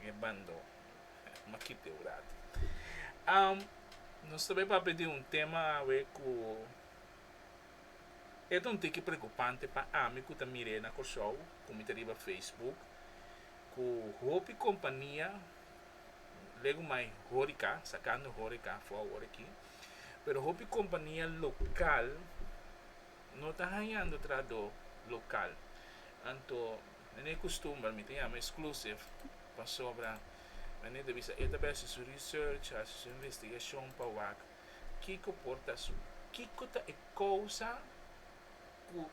e bando ma kipeu rati. Am nos ta bai papia di un tema awe ku e ta un tiki preokupante pa ami ku ta mir'é na Kòrsou ku mi ta riba Facebook ku hopi kompania legu mai hórika sakando hórika afó awor aki pero hopi kompania lokal no ta hañando trahadó lokal anto. Den e kustumber mi ta yama esklusiv pasobra Mene ta bisa e ta besi su research, hasi su investigashon pa wak kiko por ta su, kiko ta e kousa ku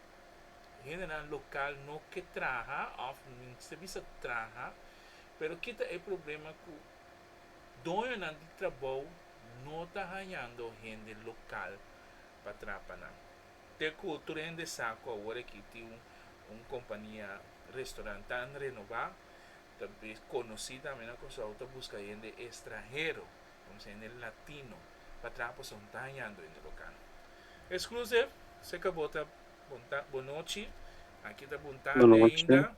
hendenan lokal no ke traha òf mi no ta bisa traha, pero ki ta e problema ku doñonan di trabou no ta hañando hende lokal pa trapa nan. Te cu tur hende sa cu awor aki tin un un compania restaurant tan renobá, ta bes conoci tambe na Curaçao, ta busca hende estranhero, vamos a dice hende latino, pa traha pa son tañando hende local. Exclusive, se cabo ta bon ta bon nochi, aki ta bon tarde ainda,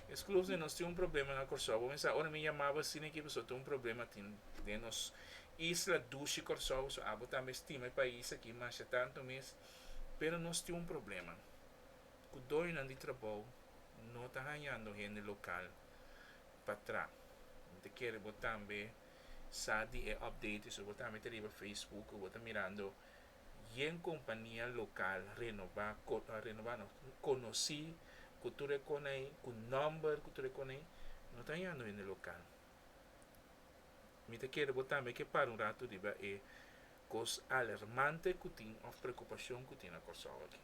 Exclusive nos tin un problema na Curaçao, bo mester sa ora mi yamaba asina aki pasobra tin un problema tin den nos Isla dushi Kòrsou so abo tambe estima e pais aki masha tantu mes pero nos tin un problema ku doñonan di trabou no ta hañando hende lokal pa tra mi ta kere bo tambe sa di e update su bo tambe ta riba Facebook ku bo ta mirando yen kompania lokal renobá renobá no konosí ku tur e konai ku nòmber ku tur e konai no ta hañando hende lokal. Mi ta kere bo tambe ke para un ratu riba e kos alermante ku tin òf preokupashon ku tin na Kòrsou aki.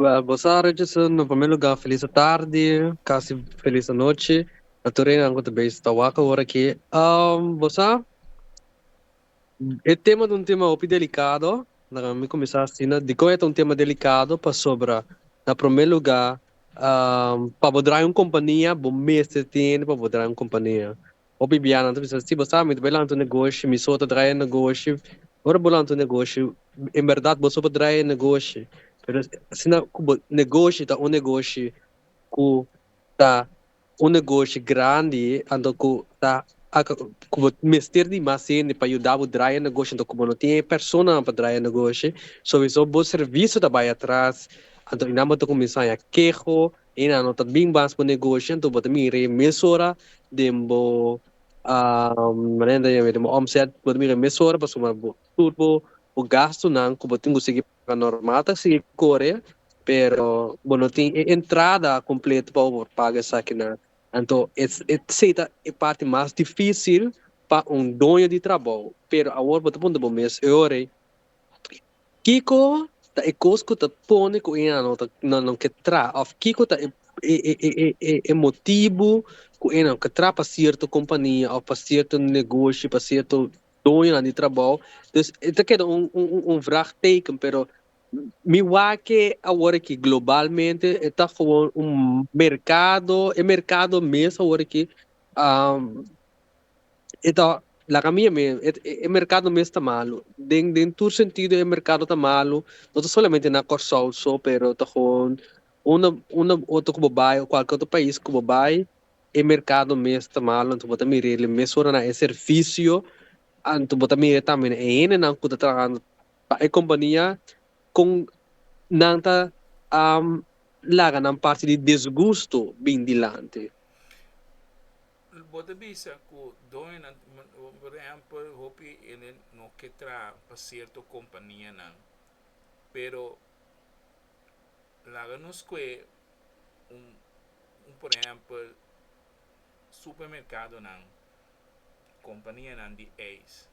Wèl, bo sa rechi su no promé lugá felis atardi, kasi felis anochi, na tur einan ku ta beishi ta wak awor aki. Bo sa? E tema ta un tema hopi delikado. Laga mi kuminsá asina, dikon e ta un tema delikado? Pasobra na promé lugá, pa bo drái un kompania bo mester tene pa bo drái un kompania. Hopi bianan ta bisa, si bo sa mi ta bai lanta un negoshi, mi so ta drái e negoshi. Ora bo lanta un negoshi, en bèrdat bo so por drái e negoshi, pero asina ku bo negoshi ta un negoshi ku ta. Un negoshi grandi anto ku ta ku bo mester di mas hende pa yuda bo draya negoshi anto ku bo no tin e personanan pa draya negoshi sowiso bo servisio ta bai atras anto enan bo ta kuminsá ya keho enan no ta bin mas bo negoshi anto bo ta mira e mesora den bo renta den bo òmset bo ta mira e mesora pasobra bo tur bo gastunan ku bo tin ku sigui La normal ta sigui kore pero bo no tin e entrada kompleto pa bo por paga esakinan. Anto esei ta e parti mas difisil pa un doño di trabou. Pero awor bo ta puntra bo mes e ora ei, Kiko ta e kos ku ta pone ku ena no ta no no ke tra òf kiko ta e motibu ku ena no ke tra pa sierto kompania òf pa sierto negoshi pa sierto doñonan di trabou dus e ta keda un un vrag teken pero mi wak awor aki globalmente e ta gewoon un merkado e merkado mes awor aki e ta laga mi yam'e e merkado mes ta malu den den tur sentido e merkado ta malu no ta solamente na Kòrsou so pero ta gewoon unda unda otro ku bo bai o kualke otro pais ku bo bai E merkado mes ta malu anto bo ta mir'é el e mes ora na e servisio, anto bo ta mir'é tambe na e hendenan ku ta trahando pa e kompania kon nan ta laga nan parti di desgusto bin dilanti. Bo ta bisa ku doñonan, por ehèmpel, hopi hende no ke traha pa sierto kompanianan, pero Laga nos kue un un por ehempel supermerkadonan, kompanianan di eis,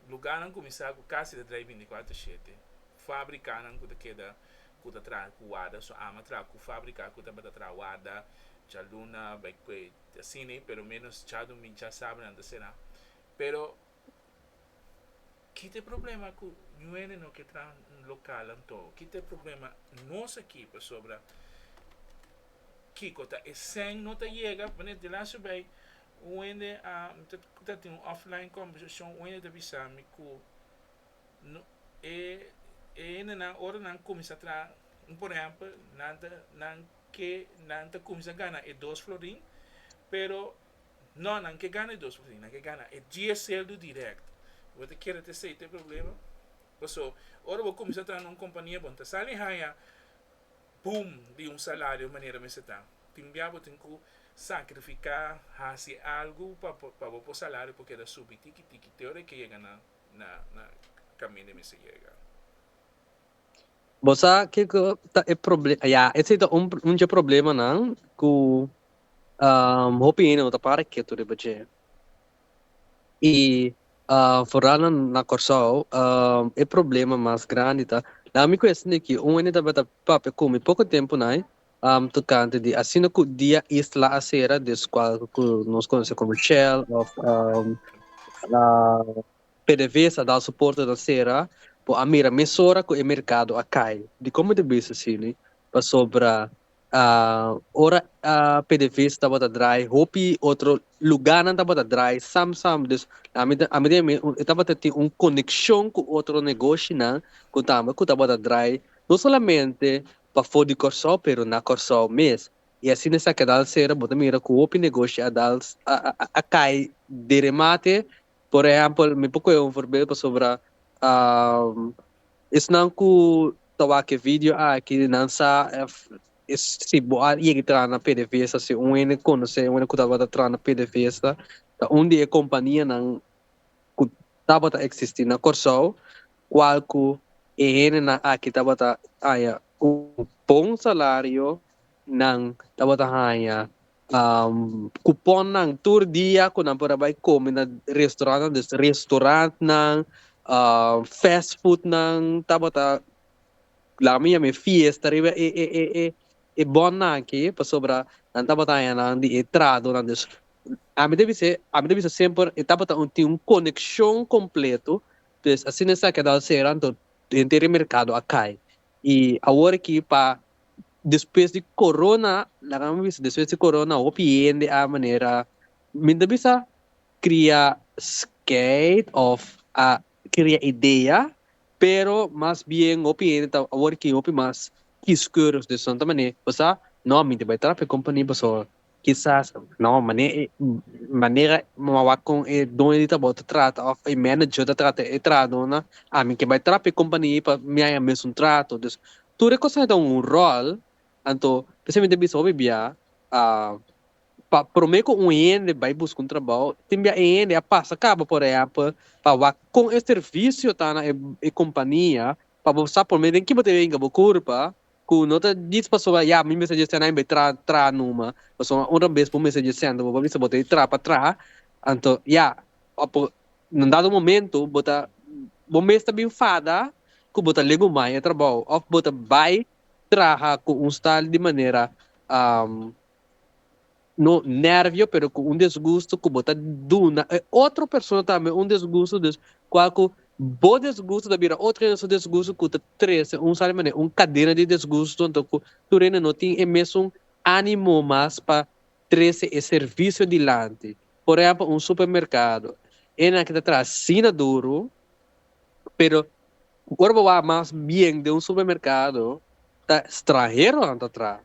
lugarnan kuminsá ku kasi ta traha bintikwatro shete, fabrikanan ku ta keda ku ta traha ku warda su ama traha ku fabriká ku tabata traha warda djaluna bai kue asina pero menos chadu mincha sabra nan ta será pero. Kit e problema ku ñuele no ke traha lokal anto? Kit e problema nos aki pasobra kiko ta e sèn no ta yega? Manera di lastru bai wende a ta tin un offline kombersashon wende ta bisa mi ku no e e hende nan ora nan kuminsá traha un por ehèmpel nan ta nan ke nan ta kuminsá gana e dos florin pero No, nan ke gana e dos por sin, nan ke gana e dies sueldo direct. Bo ta kere ta esei ta e problema? Paso, ora bo kuminsá traha na un kompania, bo no ta sali haña boom di un salario manera mester ta. Tin bia bo tin ku sakrifiká, hasi algu pa pa bo por salario por keda subi tiki tiki te ora e ke yega na na kaminda e mester yega. Bo sa kiko ta e problema ya esei ta un un dje problemanan ku hopi hende no ta para ketu riba dje i foral na na Kòrsou e problema mas grandi ta na mi kuesta di ki un hende tabata papia ku mi poko tempu nai tokante di asina ku dia Isla a sera deskual ku nos konosé komo Shell òf Pdvsa dal suporte na sera bo a mira mesora cu e mercado a cay dicon bo ta bisa asini pasobra ora pdvsa tabata draai hopi otro lugarnan tabata draai sam sam dus e tabata tin un coneccion cu otro negoshinan cu tambe cu tabata draai no solamente pafo di Corsou pero na Corsou mes y asina esaki a dal sera bo ta mira cu hopi negoshi a dal a cay de remate Por ehèmpel, mi por kuhé un forbeeld pasobra esnan ku ta wak e video aki nan sa èf es si bo a yega i traha na pdvsa, si un hende konosé un hende ku tabata traha na pdvsa ta un di e kompanianan ku tabata eksistí na Kòrsou kual ku e hendenan aki tabata haña un bon salario, nan tabata haña. kuponnan tur dia ku nan por a bai kome na restorantnan dus restorantnan fast foodnan tabata laga mi yama e fiesta riba e e e e e bònnan aki pasobra nan tabata haña nan di e tradonan dus ami ta bis'e ami ta bisa semper e tabata un tin un konekshon kompleto pues asina esaki a dal sera anto henter e merkado a kai Y awor aki pa despues di corona laga nan bisa despues di corona hopi hende a manera mi ta bisa cria scheid of a cria idea pero mas bien hopi hende ta awor aki hopi mas kieskeurig dus nan ta mane bo sa no mi ta bay trap e company bo so Kisas no mane e manera mawa kon e doño di trabou ta trata of e manager ta trata e trahadornan ami ke bai trap e kompania ei pa mi haña mesun trato dus tur e kosnan ta un ròl anto p'esei mi ta bisa hopi bia pa prome ku un hende bai buska un trabou tin bia e hende a pasa kaba por ehèmpel pa wak kon e servisio ta na e kompania pa bo sa prome den ki bo ta hinka bo kurpa ku no ta djis pasobra ya mi mester dje sènta mi bai traha traha numa pasobra un rabes bo mester dje sènta bo bo bisa bo ta e traha pa traha anto ya apo un dado momento bo ta bo mes ta bin fada ku bo ta legu mai e trabou òf bo ta bai traha ku un stal di manera no nervio pero cu un desgusto cu bo ta duna e otro persona tambe un desgusto dus cua cu bo desgusto ta bira otro hende su desgusto cu ta trece un sa di manera un cadena di desgusto anto cu tur hende no tin e mesun animo mas pa trece e servicio dilanti por ehempel un supermercado hendenan aki ta traha asina duru pero ora bo wak mas bien den un supermercado ta stranheronan ta traha.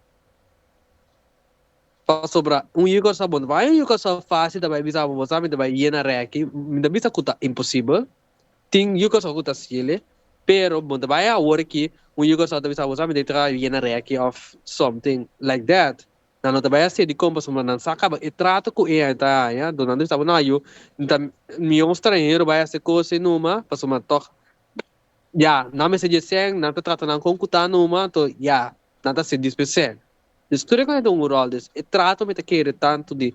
Pasobra un yuca sa bon ta bai, un yuca sa facil ta bai bisa abo bo sa mi ta bai yena reki, mi ta bisa cu ta imposibel, tin yuca sa cu ta scele, pero bo ta bai awor aki un yuca sa ta bisa abo sa mi ta tra yena reki of something like that, nan lo ta bai a cedi con pasobra nan sa caba e trato cu e ta haya, dus nan ta bisa abo no yu ta miyon un stranhero bai hace cos ei numa pasobra toch ya nan mester dje sec, nan ta trata nan con cu ta numa, to ya nan ta cedi p'e sec. Despues ku nan ta un ròl des e trato mi ta kere tantu di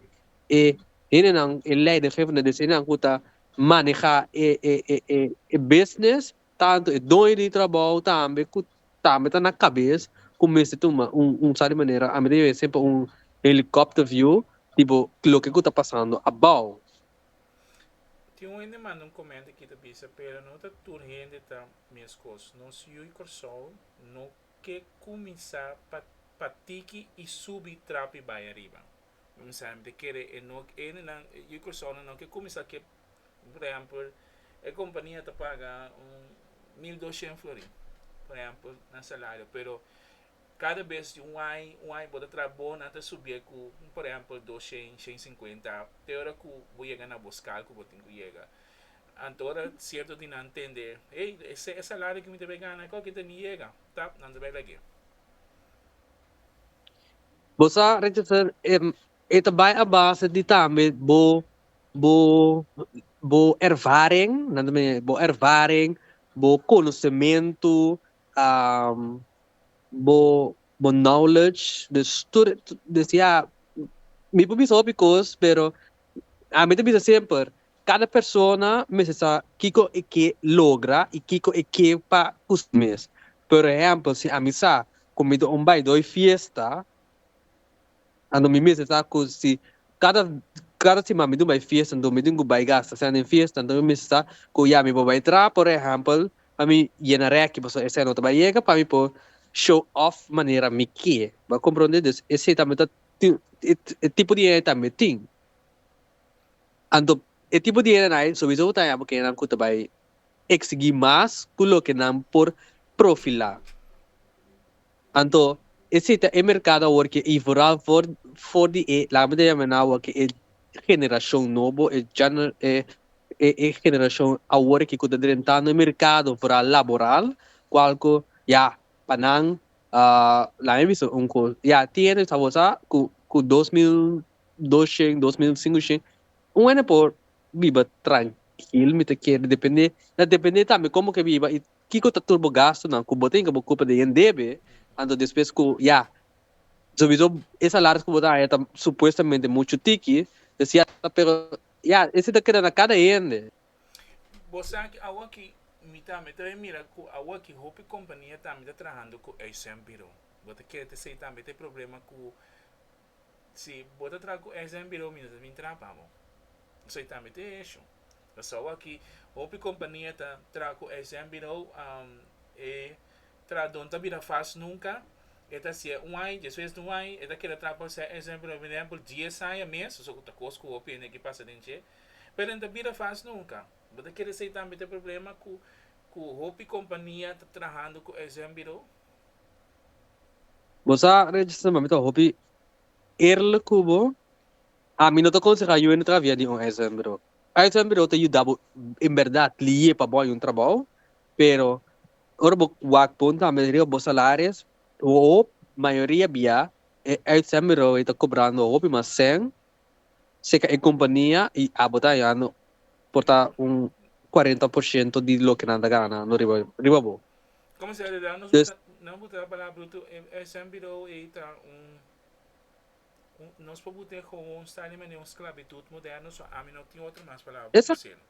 e hendenan, e leidinggevende des hendenan ku ta manehá e e e e business, tantu e doño di trabou tambe ku tambe ta na kabes ku mester tuma un un sa di manera ami ta yega semper un helicopter view di bo loke ku ta pasando abou. Tin un hende manda un komento aki ta bisa pero no ta tur hende ta meskos. Nos yu i Kòrsou no ke kuminsá pa pa tiki i subi trapi bai ariba. Kuminsá empezá kere e no endenan, yu Cursona no ke kuminsá ke por ehèmpel e kompania ta paga un mil doshen florin por ehèmpel nan salario pero kada bes di un ai un ai bo ta traha bo nan ta subié ku por ehèmpel doshen shen sinkuenta te ora ku bo yega na bo skal ku bo tin ku yega. Anto ora cierto di nan tende, Hey, esei e salario cu mi ta bay gana e coke ta mi yega. Tap, nan ta bay lag'e. Bo sa rechacer e, e ta bay a base di tambe bo, bo, bo ervaring, nan ta bay lag'e, bo ervaring, bo conocemento, um, bo, bo knowledge, dus tur e, dus ya, mi por bisa hopi cos, pero ami ta bisa semper, Kada persona mester sa kiko e ke logra i kiko e ke pa ku si mes. Por ehèmpel, si ami sa ku mi ta un baidói fiesta, anto mi mester sa ku si kada kada siman mi ta un bai fiesta, anto mi tin ku bai gasta sèn den fiesta, anto mi mester sa ku ya mi por bai tra, por ehèmpel, pa mi yena rèki pasobra esei no ta bai yega, pa mi por show off manera mi ke. Bo a komprondé? Entonces esei tambe ta tin e tipo di hende tambe tin. Anto e tipo di hendenay souwiso bo ta haya bo kendenan ku ta bai eksigi mas ku loke nan por profilá. Anto esei ta e merkado awor ke i vooral for for di e laga mi ta yama nan awor ke e generashon nobo, e gener e generashon awor ke ku ta drentando e merkado vooral laboral kual ku ya pa nan laga mi bisa un kos ya tin hende sa bo sa ku ku dos mil dos shen, dos mil sinku shen, un hende por biba trankil, mi ta kere depende, ta depende tambe komo ke biba i kiko ta tur bo gastunan ku bo tin ke bo kupa den yen debe, anto despues ku ya, sowieso e salaris ku bo ta haña ta supuestamente muchu tiki, ta siata pero ya ese ta keda na kada hende. Bo sa ke awaki mi tambe ta bin mira ku awaki hopi kompania tambe ta trahando ku eisen biro, bo ta kere ta esei tambe ta e problema ku Si bo ta traha ku SN Birou mi no ta bin traha pa bo. Esei tambe ta e hesho. Pasó aki hopi kompania ta traha ku SN Birou e trahadon ta bira fas nunka e ta hasié un ai despues di un ai e ta keda traha pa SN Birou por ehèmpel dies aña mes so ta kos ku hopi hende a pasa den dje pero e ta bira fas nunka. Bo ta kere esei tambe ta e problema ku hopi kompania ta trahando ku SN Birou? Bo sa Reyes Samba mi ta hopi eerlijk ku bo, ami no ta akonseha yu hende travia di un ISM Birou. ISM Birou ta yuda bo en bèrdat liye pa bo haña un trabou, pero ora bo wak pon tambe riba bo salaris, hoop mayoria bia e ISM Birou ei ta kobrando hopi mas sèn seka e kompania i abo ta hañando por ta un kuarenta por shento di loke nan ta gana no riba riba bo. Como se realidad nos Des- buta, nos buta palabra bruto, e, e Sam Bidou ei ta un, un, nos por bute gewoon staan in manera un sclavitud moderno, so ami no tin otro mas palabra Exact- pa selo.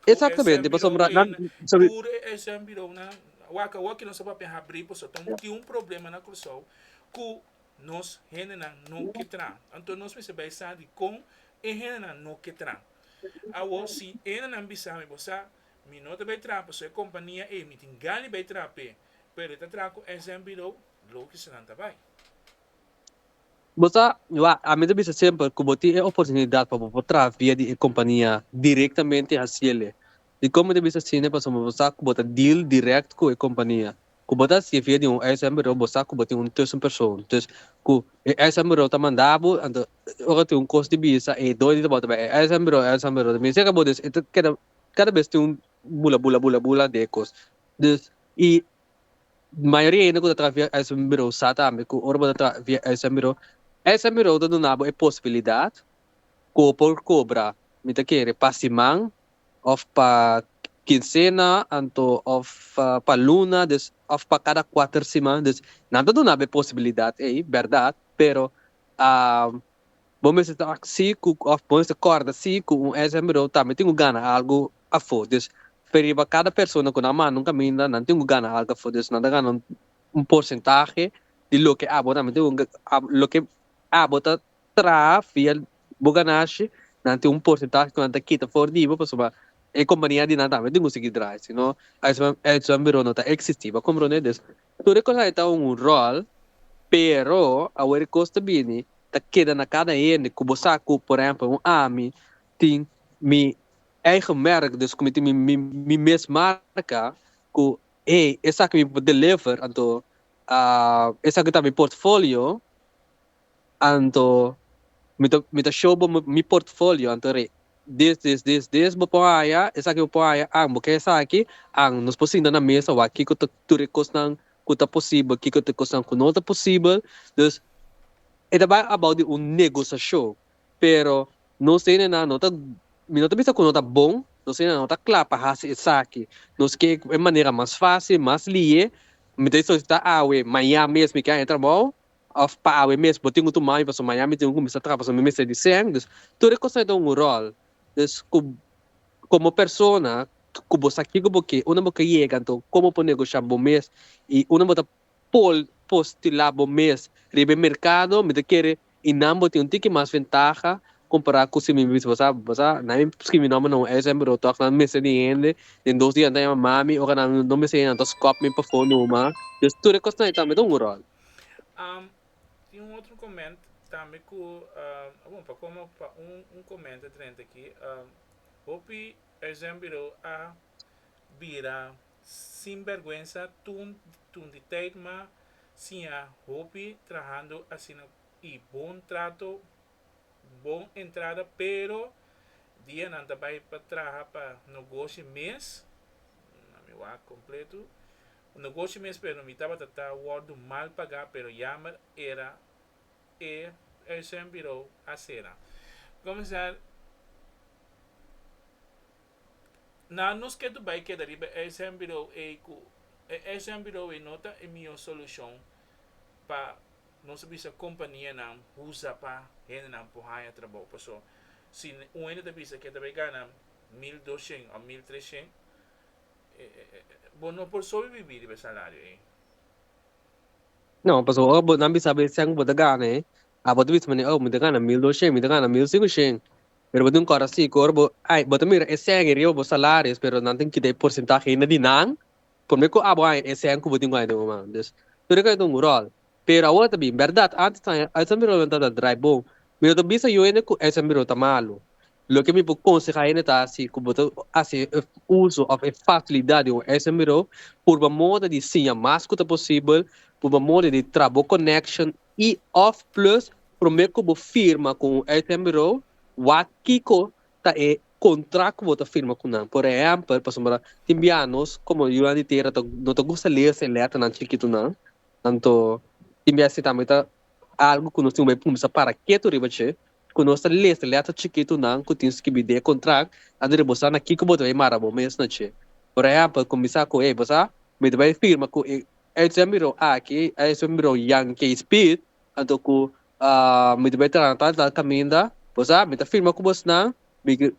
Cu e Sam Exactamente, Bidou pasobra ei, nan, na, sabi, tur e, e Sam Bidou na, wak, wak nos a papia habri, paso ta un, tin un problema na Curaçao cu nos hendenan no ke tran. Anto nos mester bay sa dicon e hendenan no ke tran. Awo, si e hendenan bisa mi, bo sa, Mi no ta bay traha pa su e compania ey, mi tin gan di bay traha p'e, pero e ta traha cu SM Bureau, lo ki senan ta bay. Bo sa, wak, ami ta bisa semper cu bo tin e oportunidad pa bo por traha via di e compania directamente haciele. Dicon mi ta bisa asina? Pasobra bo sa cu bo ta deal direct cu e compania. Cu bo ta haci'e via di un SM Bureau, bo sa cu bo tin un tussenpersoon. Dus, cu e SM Bureau ta manda bo, anto ora tin un cos di bisa, e doi di tabata bay, e SM Bureau, e SM Bureau ta bisa ca bo, dus e ta keda Kada bes tin un bula bula bula bula de e kos. Dus i mayoria hende ku ta traha via uitzendbirou sa tambe ku ora bo ta traha via uitzendbirou, uitzendbirou ta duna bo e posibilidat ku bo por kobra mi ta kere pa siman òf pa kinsena anto òf pa luna dus òf pa kada kuater siman. Dus nan ta duna bo e posibilidat ei, bèrdat, pero Bo mester ta ak si ku òf bo mester kòrda si ku un ex amigo tambe tin ku gana algu afó. Dus fe riba kada persona ku nan manda un kaminda nan tin ku gana algu afó. Dus nan ta gana un porsentahe di loke abo tambe tin ku loke abo ta traha via bo ganashi nan tin un porsentahe ku nan ta kita for di bo pasobra e kompania di nan tambe tin ku sigui drai sino ex amigo no ta eksistí. Bo a kompronde? Dus Tur e cos ai ta un rol, pero awor e cos ta bini ta keda na cada hende cu bo sa cu por ehemplo un ami tin mi eigen merk dus cu mi tin mi mes marca cu hey esaki mi por deliver anto esaki ta mi portfolio. Anto mi ta mi ta show bo mi portfolio anto re this this this this bo por haya esaki bo por haya ang bo ke esaki ang nos por sinta na mesa wak kiko ta tur e kosnan ku ta posibel kiko ta e kosnan ku no ta posibel dus e ta bai about di un negosashon pero nos hende nan no ta mi no ta bisa ku no ta bon nos hende nan no ta kla pa hasi esaki nos ke e manera mas fácil mas lihe mi ta solisitá awe maña mes mi ke haña trabou Of pa awe mes bo tin un tumaño pasobra maña mi tin ku kuminsá traha pasobra mi mester di sèn. Dus tur e kosnan ta un ròl. Dus ku komo persona ku bo sa ke ku bo ke unda bo ta yega anto komo por negoshá bo mes i unda bo ta por postilá bo mes riba e merkado mi ta kere i nan bo tin un tiki mas ventaha kompará ku si mi bisa bo sa bo sa nan mi skibi mi nòmber na un sm bureau tòg nan mester di hende den dos dia nan ta yama mami ora nan no mester hende nan ta skòp mi pafó numa. Dus tur e kosnan ei tambe ta un ròl. Tin un otro comment tambe cu bon pa como pa un comment drenta aki hopi uitzendbureau a bira sin berguensa tun tun di tijd ma siña hopi trahando asina y bon trato bon entrada pero dia nan ta bay pa traha pa nogoshi mes nan mi wak completo Un negoshi mes pero mi tabata ta wordu mal pagá pero yamer era e uitzendbureau a sera. Comensar Nan nos ke do bai keda riba e uitzendbureau ei ku e uitzendbureau ei no ta e mihó solushon pa nos a bisa kompanianan huza pa hendenan por haña trabou paso si un hende ta bisa ke ta bai gana mil doshent òf mil treshent Bo no por sobi bibí riba e salario ei. No, pasobra ora bo nan bisa bo esei ku bo ta gana ei, a bo ta bisa manera, oh, mi ta gana mil doshen, mi ta gana mil singushen. Pero bo tin un kos asi ku ora bo, ai, bo ta mira esei ei riba bo salario, pero nan tin kita e porsentahe ei na di nan, por me ku abo aña esei ku bo tin ku aña den moman. Dus, tur e kos ei ta un ròl. Pero awor ta bin berdad. Antes tan e uitzenburo lo no tabata draai bon. Mi no ta bisa yu hende ku uitzenburo ta malu. Loke mi por konsehá hende ta si ku bo ta hasi uso òf e fasilidat di un uitzenburo, purba moda di siña mas ku ta posibel, purba moda di traha bo connection i òf plus promé ku bo firma ku un uitzenburo wak kiko ta e kontrakt ku bo ta firma ku nan. Por ehèmpel, pasobra tin bianos, komo yunan di tera no ta gusta lees e lèternan chikitunan, Anto, tin bia si tambe ta algu ku nos tin ku bai kumsa para ketu riba dje, ku nos ta lesa lèter chikitunan ku tin skirbi den e kontrakt a duna boso sa na kiko bo ta bai mara bo mes na dje. Por ehèmpel, kuminsá ku, Hey, bo sa, mi ta bai firma ku e Uitzwem Birou aki, e Uitzwem Birou Yankee Speed, anto ku mi ta bai traha na tal i tal kaminda. Bo sa, mi ta firma ku bosnan,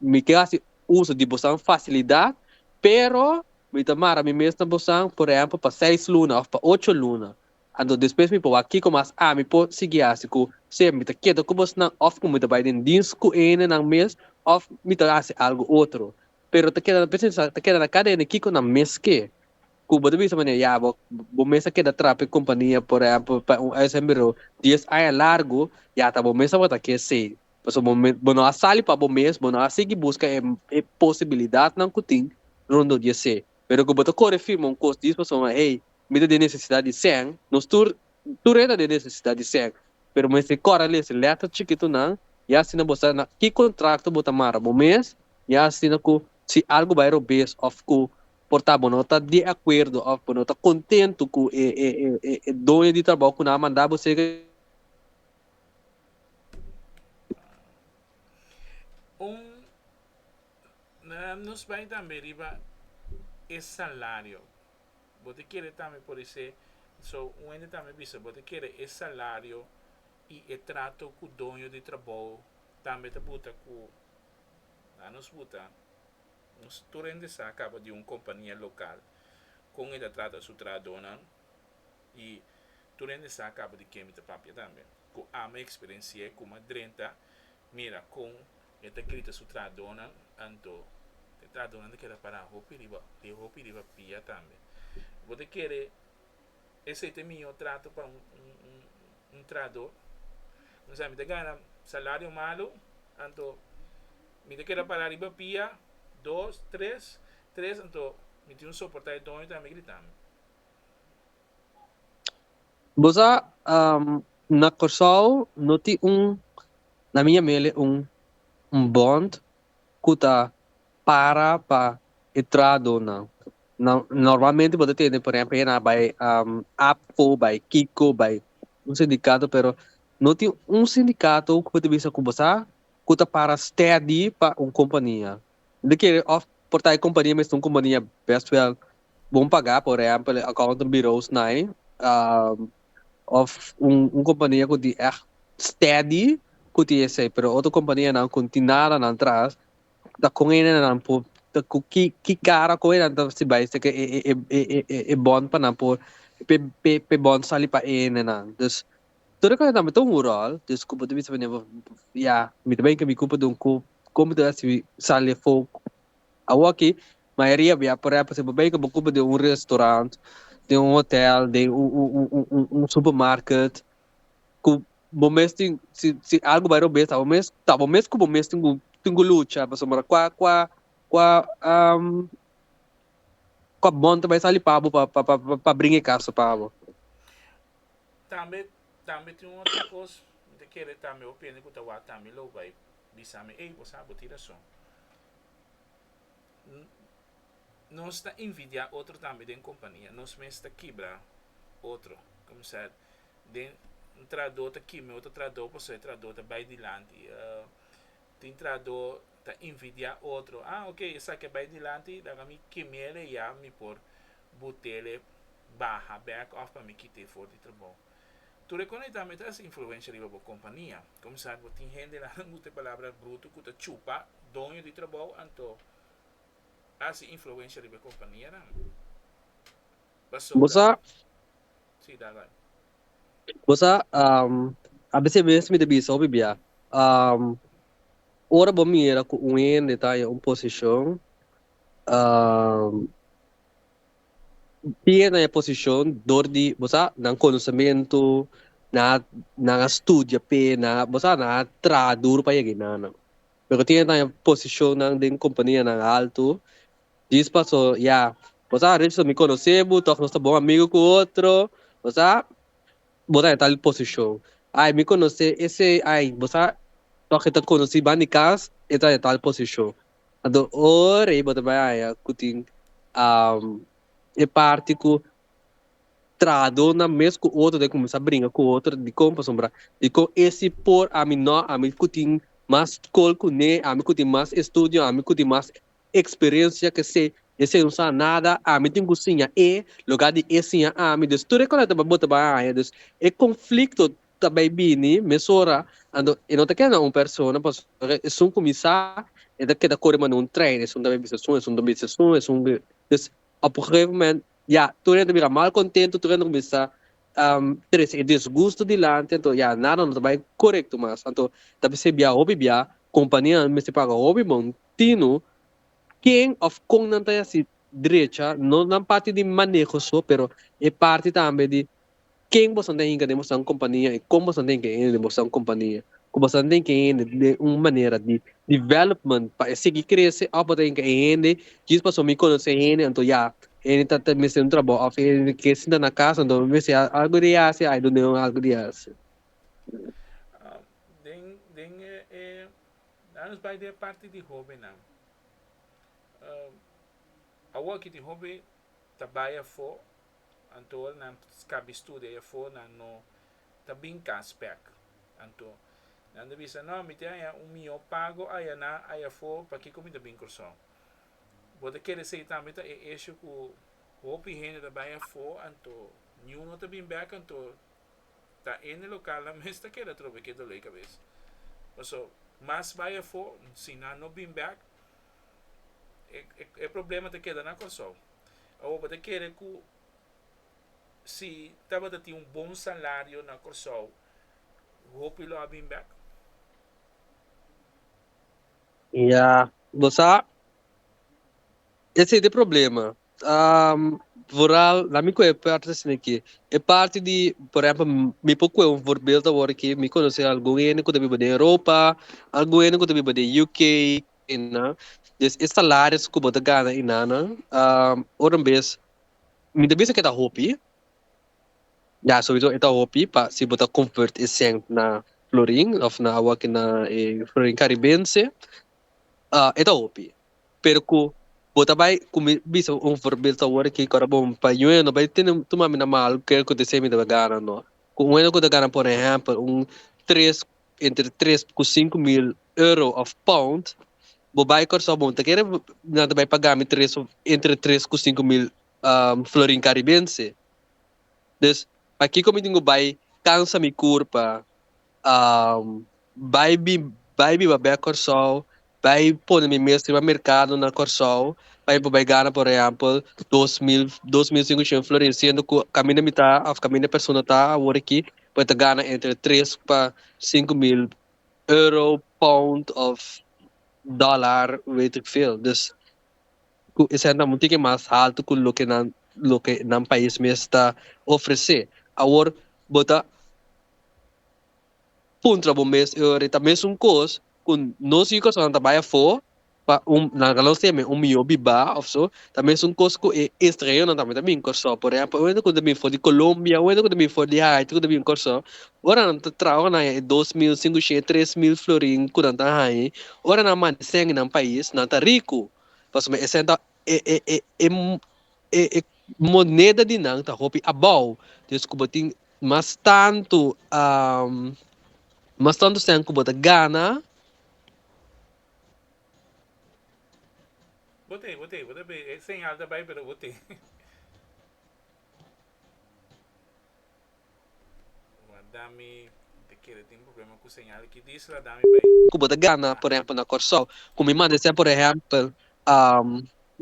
mi ke hasi uso di bosan fasilidat, pero Mi ta mara mi mes na bosan, por ehempel, pa seis luna òf pa ocho luna. Anto despues mi por wak kiko mas ami por sigui hasi ku sea mi ta keda ku bosnan òf ku mi ta bai den dins ku hendenan mes òf mi ta hasi algu otro. Pero ta keda p'esei sa ta keda na kada hende kiko nan mes ke. Ku bo ta bisa manera ya bo bo mes a keda trapa e kompania, por ehempel, pa un uitzendburo dies aña largu, ya ta bo mes tabata ke esei. Pasobra bo no a sali pa bo mes, bo no a sigui buska e posibilidatnan ku tin rondó di esei. Pero ku bo ta kore firma un kos di esei pasobra hey, mi ta den nesesidat di sèn, nos tur, tur e ta den nesesidat di sèn, pero bo mester kore a lesa lèter chikitunan i asina bo sa na ki kontrakto bo ta mara bo mes i asina ku si algu bai robes òf ku por ta bo no ta di akuerdo òf bo no ta kontentu ku e doño di trabou ku nan a manda bo serka Un nos bai tambe riba e salario bo ta kere tambe por ese so un hende tambe bisa bo ta kere e salario y e trato cu doño di trabou tambe ta buta cu a nos buta nos tur hende sa caba di un compania local con e ta trata su trahadonan. I tur hende sa kaba di ke mi ta papia tambe. Ku ami a eksperensi'é ku m'a drenta, mira kon e ta grita su trahadonan, anto e trahadonan ta keda pará hopi riba e hopi riba pia tambe. Bo ta kere esei ta e mihó trato pa un trahadó? No sa mi ta gana salario malu, anto mi ta keda pará riba pia dos, tres, tres anto mi tin soportá e doño tambe a gritami. Bo sa na Kòrsou no tin un na mi yam'ele un un bond ku ta para pa e trahadonan. Nan normalmente bo ta tende por ehempel na bai APCO, bai Kiko, bai un sindikato pero no tin un sindikato ku bo ta bisa ku bo sa ku ta para stedi pa un kompania. Bo kere òf por ta e kompania mester un kompania bèst wèl bon pagá, por ehèmpel e accountants bureaus nai, òf un kompania ku tin ègt stèdi ku tin esei, pero otro kompanianan ku no tin nada nan tras ta kon hende nan por ta ku ki ki kara kon hende nan ta risibi bai seki e bònt pa nan por p'e bònt sali pa e hendenan. Tur e kosnan mi ta un ròl, dus kup bo ta bisa pa mi never ya mi ta bai ke mi kup dun kup kon mi ta hasi sal e fok awoki mayoria bia por epo si bo bai ke bo kup den un restaurant den un hotel den un supermarket ku bo mes tin si si algu bai robes ta bo mes ta bo mes ku bo mes tin ku tin ku lucha pasobra kua kua kua kua bon ta bai sali pa bo pa pa pa bringa e kaso pa bo. Tambe tambe tin un otro cos mi ta kere tambe opiende cu ta wak tambe mi lo bay bisa mi ey bo sa bo tin razon nos ta invidia otro tambe den compania nos mes ta kibra otro comenzar den un trahador ta kibra otro trahador pasobra e trahador ta bay dilanti. tin trahadó ta invidiá otro, ah ok esaki a bai dilanti laga mi kem'ele ya mi por bot'ele baha bek òf pa mi kit'e for di trabou. Tur e kosnan ei tambe ta hasi influensha riba bo kompania. Komisar bo tin hendenan nan usa e palabra brutu ku ta chupa doño di trabou anto a hasi influensha riba e kompanianan. Bo sa, bo sa, a bis'e mes mi ta bisa hopi bia, ora bo mira ku un hende ta haña un posishon, tin hende haña posishon dor di, bo sa, nan konosementu, nan a, nan a studia p'e, bo sa, nan a traha duru pa yega ei nan. Loke tin hende ta haña posishonnan den kompanianan haltu. Dis paso ya. Bo sa Richardson mi conoce bo tof nos ta bon amigo cu otro. Bo sa bo ta den tal posicion. Ay mi conoce ese ay bo sa tof e ta conoci ban di cas e ta den tal posicion. Anto ora bo ta bay haya cu tin e parti cu trahador nan mes cu otro ta cuminsa bringa cu otro dicon pasobra dicon e si por ami no ami cu tin mas scol cune ami cu tin mas estudio ami cu tin mas experiencia que se e señor sa nada ami tin cu siña e loga di e siña ami dus tur e cosa ta bota ba haya dus e conflicto ta bay bini mesora anto e no ta keda na un persona pasobra esun cuminsa e ta keda core manda un trein esun ta bay bisa esun esun ta bisa esun esun dus op un gegeven moment ya tur hende ta bira mal contento tur hende ta cuminsa trece e disgusto dilanti anto ya nada no ta bay corecto mas anto ta ser bia hopi bia companianan mester paga hopi bon Tino, Ken of kon nan ta yasí drecha, no nan parti di maneho so, pero e parti tambe di ken bosan ta hinka den bosan un kompania i kon bosan ta hinka hende den bosan un kompania. Ku bosan ta hinka hende den un manera di development pa e sigui krese of bo ta hinka e hende djis pasobra mi konosé e hende anto ya hende ta ta mester un trabou of hende ta ke sinta na kas anto bo mester hasi algu di hasi ai dunde un algu di hasi. Den den e e A nos bai den e parti di hobennan. Awor ki tin hopi ta bai afó, anto ora nan skabi studia ei afó nan no ta bin kas pèk. Anto nan ta bisa, No, mi tin haña un mihó pago ayaná, ayafó, pakiko mi ta bin Kòrsou? Bo ta kere esei tambe ta e esho ku hopi hende ta bai afó, anto niun no ta bin bèk, anto ta ene local nan mes ta keda trobe ke doley kabes paso mas bay afo si nan no bin back e problema ta keda na Kòrsou awor bo ta kere ku si tabata tin un bon salario na Kòrsou hopi lo a bin back? Ya bo sa. Esei t'e problema. Vooral na mi cu e parti ta scina aqui, e parti di, por ehempel, mi por coge un voorbeeld awor aqui, mi conoce algun hende cu ta biba den Europa, algun hende cu ta biba den UK, na, des e salaris cu bo ta gana enanan, ora bes, mi ta bisa cu e ta hopi, ya, sowiso e ta hopi pa si bo ta convert e cent na florin of na awor aki na e florin caribense, e ta hopi. pero cu bo ta bay cu mi bisa bo un voorbeeld awor aki ora bo mi pa yue no bay tene tuma mi na malo kel cu te se mi debe gana no cu un hende cu ta gana por ehempel un tres entre tres cu cinco mil euro of pound bo bay Curaçao bo ta kere nan ta bay paga mi tres of entre tres cu cinco mil florin caribense dus pakico mi tin cu bay cansa mi curpa. um bai bi bai biba bek Kòrsou bai pone mi mes riba merkado na Kòrsou pa mi por bai gana por ehèmpel dos mil dos mil sinku shen florin siendo ku kaminda mi ta òf kaminda persona ta awor aki por e ta gana entre tres pa sinku mil euro pound òf dòlar wet ik veel dus ku esei nan tin ke mas haltu ku loke nan loke nan pais mes ta ofresé. Awor bo ta puntra bo mes e ora ta mesun kos ku nos yukasonan ta bai afó pa un nan ta lo se me un mihó bibá òf so ta mesun kos ku e estranheronan tambe ta bin Kòrsou. Por ehèmpel un hende ku ta bin for di Colombia un hende ku ta bin for di Haiti ku ta bin Kòrsou ora nan ta traha ora nan haña e dos mil sinku shei tres mil florin ku nan ta haña ora nan mantesenan pais nan ta riku. Pasobra esei ta e moneda di nan ta hopi abou dus ku bo tin mas tantu mas tantu sèn ku bo ta gana. Bo te bo te bo te e señal ta bai pero bo te. Ku bo ta gana por ehempel na Kòrsou ku mi manda esei por ehempel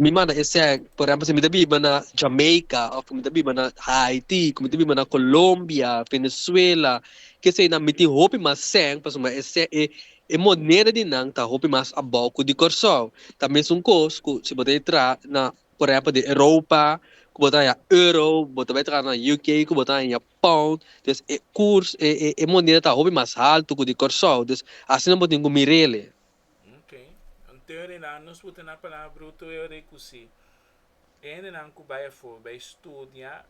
mi manda esei por ehempel si mi ta biba na Jamaica òf ku mi ta biba na Haiti ku mi ta biba na Colombia Venezuela kesei nan mi tin hopi mas sèn pasobra esei e moneda di nan ta hopi mas abou ku di Kòrsou ta mesun kos ku si bo ta entra na por ehempel den Europa cu bo ta haya euro, bo ta bay traha na UK cu bo ta haya pound, dus e curs e moneda ta hopi mas halto cu di Corsou, dus asina bo tin cu mirele. Ok, ante redan nos por tene palabra bruto e ora cu si e hendenan cu bay afor bay studia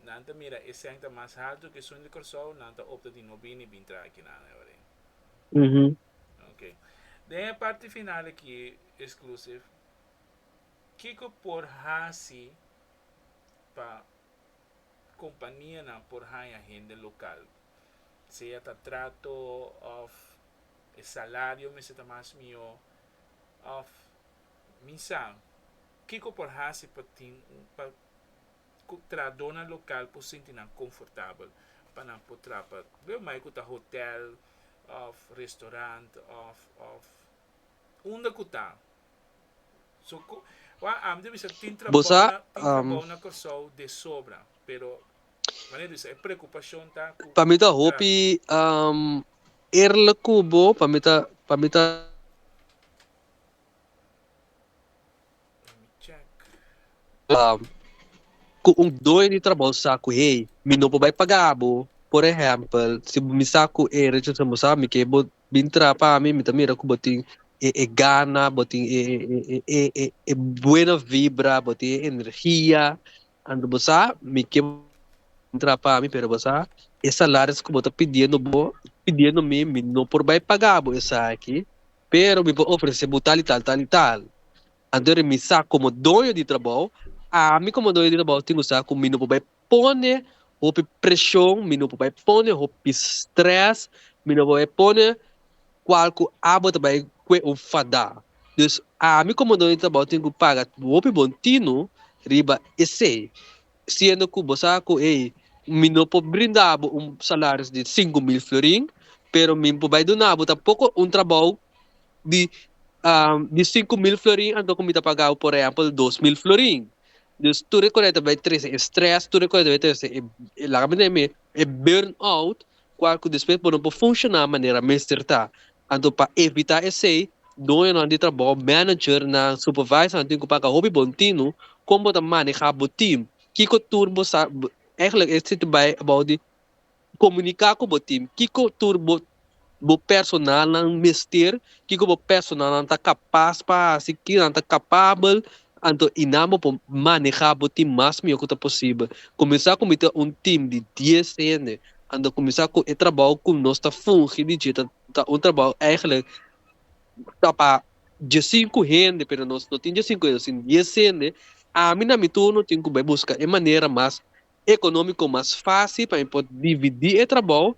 nan ta mira e cent ta mas halto cu esun di Corsou nan ta opta di no bini bin traha aki nan e ora. Ok, den e parti final aki exclusive. Kiko por hasi pa kompanianan por haña hende lokal? Sea ta trato òf e salario mester ta mas mihó òf mi sa kiko por hasi pa tin pa ku trahadónan lokal por sinti nan konfortabel pa nan por traha pa dor mai ku ta hotèl òf restorant òf òf unda ku ta. Busa pa mi ta hopi eerlijk ku bo pa mi ta pa mi ta. Ku un doño di trabou sa ku hey mi no por bai paga bo por ehempel si mi sa ku hey rechasabosa mi ke bo bin tra pa mi mi ta mira ku bo tin e e gana bo tin e e e e buena vibra bo tin e energia anto bo sa mi ke bo tra pa mi pero bo sa e salaris ku bo ta pidiendo bo pidiendo mi mi no por bai paga bo esaki pero mi por ofrese bo tal i tal tal i tal anto mi sa komo doño di trabou ami komo doño di trabou tin ku sa ku mi no por bai pone hopi preshon mi no por bai pone hopi strès mi no por bai pone kual ku abo ta bai kue un fadá dus ami komo dueño di trabou tin ku paga hopi bon tino riba esei siendo ku bo sa ku ey mi no por brinda bo un salaris di sinku mil florin pero mi por bai duna bo tampoko un trabou di di sinku mil florin anto ku mi ta paga bo por ehempel dos mil florin Dus tur e koneto bai trese e stress, tur e koneto bai trese e e laga bini mi e burn out kual ku despues bo no por funshoná manera mester ta. Anto pa evitá esei doñonan di trabou, managernan, supervisornan tin ku papia hopi bon tinu kon bo ta manehá bo team, kiko tur bo sa, eigenlijk e situ bai about di Komuniká ku bo tim kiko tur bo bo personalnan mester, kiko bo personalnan ta kapas pa hasi, kiko nan ta kapabel, anto i nan bo por manehá bo tim mas mihó ku ta posibel. Kuminsá ku mi ta un tim di dies hende, anto kuminsá ku e trabou ku nos ta fungi di dje ta ta un trabou eigelik ta pa dje sinku hende pero nos no tin dje sinku hende sin dies hende, ami na mi turno tin ku bai buska e manera mas ekonómiko mas fásil pa mi por dividí e trabou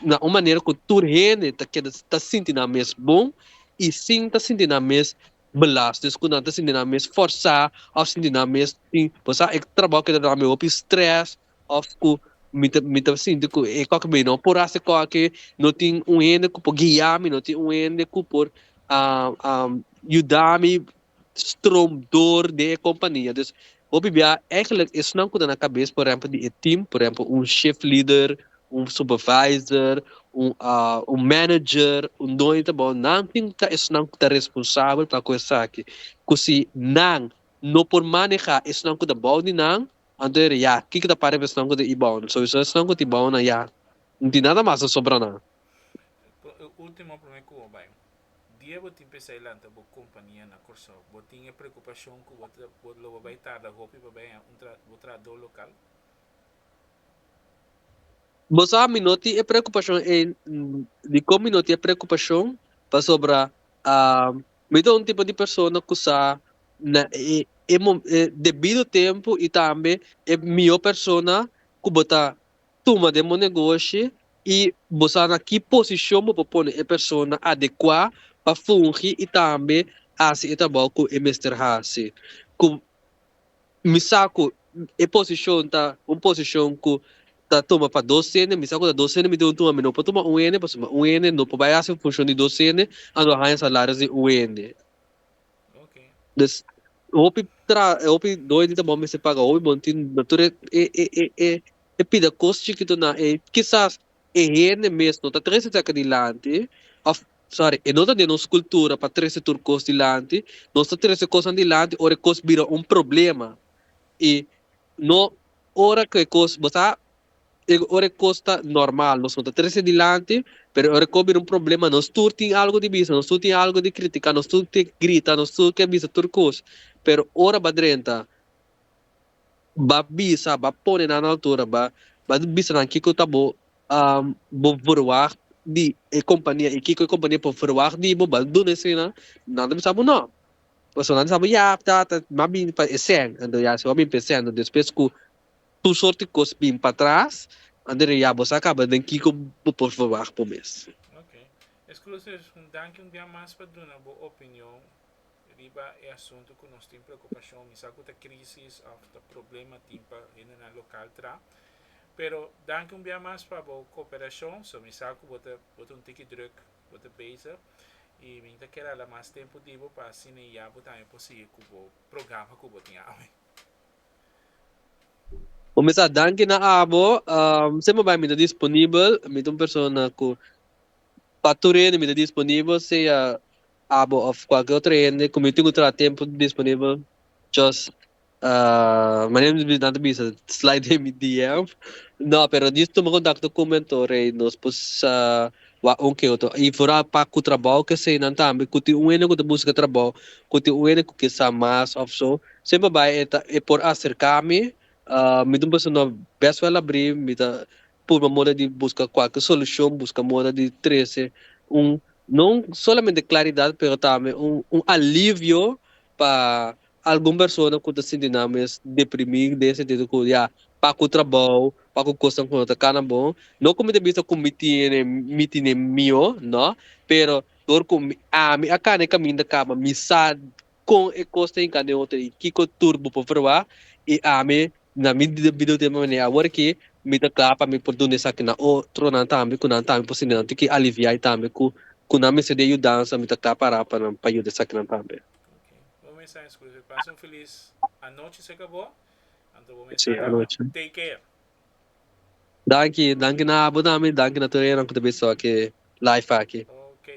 na un manera ku tur hende ta keda ta sinti nan mes bon i sin ta sinti nan mes belast des ku nan ta sinti nan mes fòrsá òf sinti nan mes tin bo sa e trabou keda duna mi hopi strès òf ku mi ta mi ta sinti ku e kòke mi no por hasi kòke no tin un hende ku por guia mi no tin un hende ku por yuda mi. stroom door den e compania dus bo bibia eigenlijk esnan cu ta na cabes por ehempel di e team por ehempel un shift leader un supervisor un un manager un doño ta bao nan tin ta esnan cu ta responsabel pa cu esaki cu si nan no por maneha esnan cu ta bao di nan anto ya kiko ta pareba esnan cu ta i bao nan so esun esnan cu ta i bao nan ya no tin nada mas ta sobra nan. Dia bo tin pensá i lanta bo kompania na Kòrsou, bo tin e preokupashon ku bo ta bo lo bo bai tarda hopi pa bai haña un tra bo trahadó lokal? Bo sa mi no tin e preokupashon ei di kon mi no tin e preokupashon? Pasobra mi ta un tipo di persona ku sa na e e debido tempu i tambe e mihó persona ku bo ta tuma den bo negoshi i bo sa na ki posishon bo por pone e persona adekuá pa fungi i tambe hasi e trabou ku e mester hasi. Ku mi sa ku e posishon ta un posishon ku ta tuma pa dos hende, mi sa ku ta dos hende mi debe tuma, mi no por tuma un hende pasobra un hende no por bai hasi un funshon di dos hende a lo haña salarios di un hende. Des hopi tra hopi doño di trabou mester paga hopi bon tin tur e e e e E pida kos chikitonan ei. Kisas e hende mes no ta trese esaki dilanti, òf sòri, e no ta den nos kultura pa trese tur kos dilanti. Nos ta trese kosnan dilanti ora e kos bira un problema. I no ora ku e kos bo sa, e ora e kos ta normal nos no ta trese dilanti, pero ora e kos bira un problema nos tur tin algu di bisa, nos tur tin algu di kritiká, nos tur ke grita, nos tur ke bisa tur kos. Pero ora bo a drenta. Ba bisa, ba pone nan altura, ba ba bisa nan kiko ta bo bo verwagt di e kompania i kiko e kompania por verwagt di bo, ba duna esei nan, nan ta bisa bo nò, pasobra nan ta bisa bo ya ta ta m'a bini pa e sèn, anto ya si bo a bini pa e sèn, despues ku tur sorti kos bin patras, anto ya ya bo sa kaba den kiko bo por verwagt bo mes. Ok. Exclusive, un danki un bia mas pa duna bo opinion. riba e asuntu ku nos tin preokupashon, mi sa ku ta krísis òf ta problema tin pa hendenan lokal tra. Pero danki un bia mas pa bo koperashon, so mi sa ku bo ta bo ta un tiki drùk, bo ta bezig i mi ta kere hala mas tempu di bo pa asina i ya bo tambe por sigui ku bo programa ku bo tin awe. Bo mi sa danki na abo, siemper bai mi ta disponibel, mi ta un persona ku pa tur hende mi ta disponibel, sea abo of cualkier otro hende cu mi tin cu traha tempo disponibel just manera mi nan ta bisa slide den mi DM no pero just tuma contacto cu mi anto rei nos por wak un ke otro y fora pa cu trabou ke esey nan tambe cu tin un hende cu ta busca trabou cu tin un hende cu kin sa mas of so semper bay e por acerca mi mi tin pensa no best wel abri mi ta purba moda di buska kualke solushon, buska moda di trese un no solamente klaridat pero tambe un alivio pa algun persona ku ta sinti nan mes deprimí den e sentido ku ya pa ku trabou, pa ku kosnan ku no ta kana bon, no ku mi ta bisa ku mi tiene mi tine mihó, no, pero dor ku ami a kana e kaminda kaba mi sa kon e kos ta hinká den otro i kiko tur bo por probá i ami na mi debido tempo manera awor aki mi ta kla pa mi por duna esaki na otronan tambe ku nan tambe por siña nan tin ki aliviai tambe ku ku nan mester di e yudansa mi ta kla pará pa nan pa yuda esakinan tambe. Bon mensá i Scrooge pasa un feliz anochi si akabó anto bon mensá tambe anochi take care. Danki, danki na abo tambe i danki na tur eran ku ta bisa oke live aki. Oke.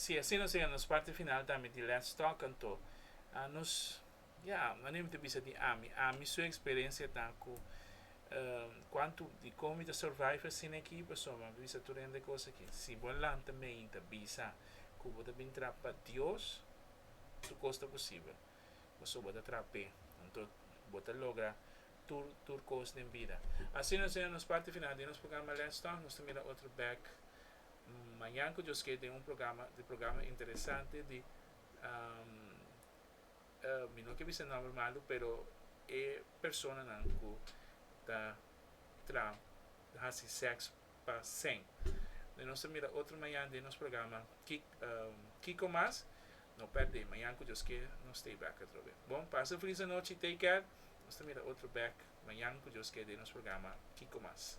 Si así nos yega nos parti final tambe di Let's Talk anto nos ya anima ta bisa di Ami. Ami su experencia ta cu cuanto di con mi ta survive asina aki pasobra mi a bisa tur hende cos aki. Si bo a lanta mei y ta bisa cu bo ta bin traha pa Dios tur cos ta posibel pasobra bo ta traha pe anto bo ta logra tur tur kos den bida. Asina nos yega nos parti final di nos programa Let's Talk, nos ta mira otro bek mañan ku Dios ke den un programa di programa interesante di mi no ke bisa nòmber malu pero e personanan ku ta tra hasi seks. pa sèn. Dje nos ta mira otro mañan den nos programa Kiko Mas. No pèrd'é, mañan ku Dios kier nos stay back atrobe. Bon, pasa un felis anochi, take care. Nos ta mira otro bèk mañan ku Dios kier den nos programa Kiko Mas.